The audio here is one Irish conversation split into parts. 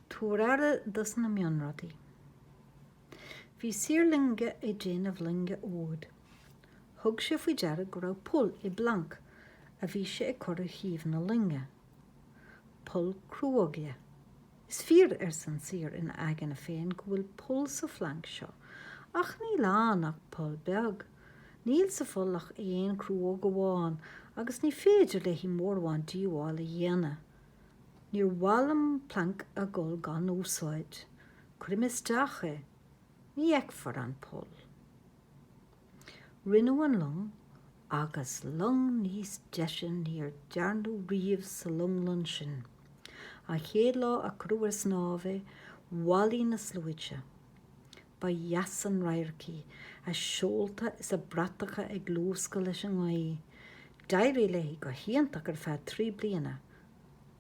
Tabhair aire dos na mionrudaí. Bhí saor loinge ag déanamh loinge úd. Thug sé faoi deara go raibh poll i bplanc a bhí sé ag cur ar thaobh na loinge. Poll cruóige. Is fíor, arsa an saor ina aigne féin, go bhfuil poll sa phlanc seo, ach níl ann ach poll beag. Níl sa pholl ach aon cruóg amháin agus ní féidir léi mórán díobhála a dhéanamh. Níor mhaith liom planc a dhul gan úsáid. Cuirim isteach é. Ní fheicfear an poll. Rinneadh an long, agus long níos deise níor dearnadh riamh sa longlann sin. An chéad lá a cuireadh ar snámh é, bhailigh na sluaite. Ba dheas an radharc í, a seolta is a bratacha ag luascadh leis an ngaoth. D'éirigh léi go hiontach ar feadh trí bliana,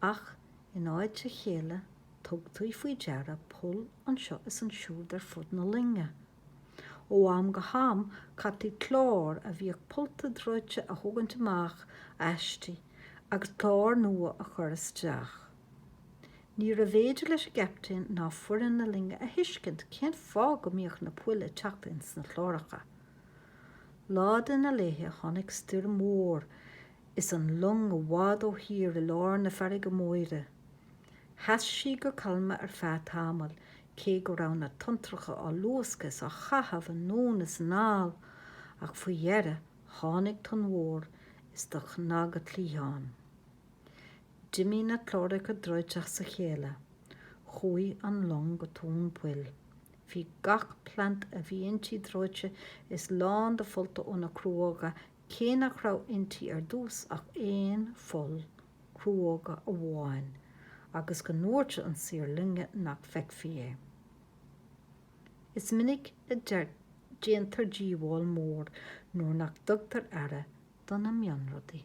ach in áit a chéile tugtaí faoi deara poll anseo is ansiúd ar fud na loinge. Ó am go ham caití clár a bhíodh pollta dreoite a thógaint amach aisti agus clár nua a chur isteach. Níorbh fhéidir leis an gCaptaen ná foireann na loinge a thuiscint cén fáth go mbíodh na poill ag teacht ins na cláracha. Lá de na laethe tháinig stoirm mhór is an long i bhfad ó thír i lár na farraige móire. Sheas sí go calma ar feadh tamaill cé go raibh na tonntracha á luascadh is á chaitheamh anonn is anall, ach faoi dheireadh tháinig tonn mhór is do chnag a cliathán. D'imigh na cláracha dreoite as a chéile. Chuaigh an long go tóin poill. Bhí gach planc a bhí inti dreoite is lán de phollta ó na cruóga cé nach raibh inti ar dtús ach aon pholl cruóga amháin agus go ndúirt an saor loinge nach bhfeicfí é. Is minic a déantar díobháil mhór nuair nach dtugtar aire do na mionrudaí.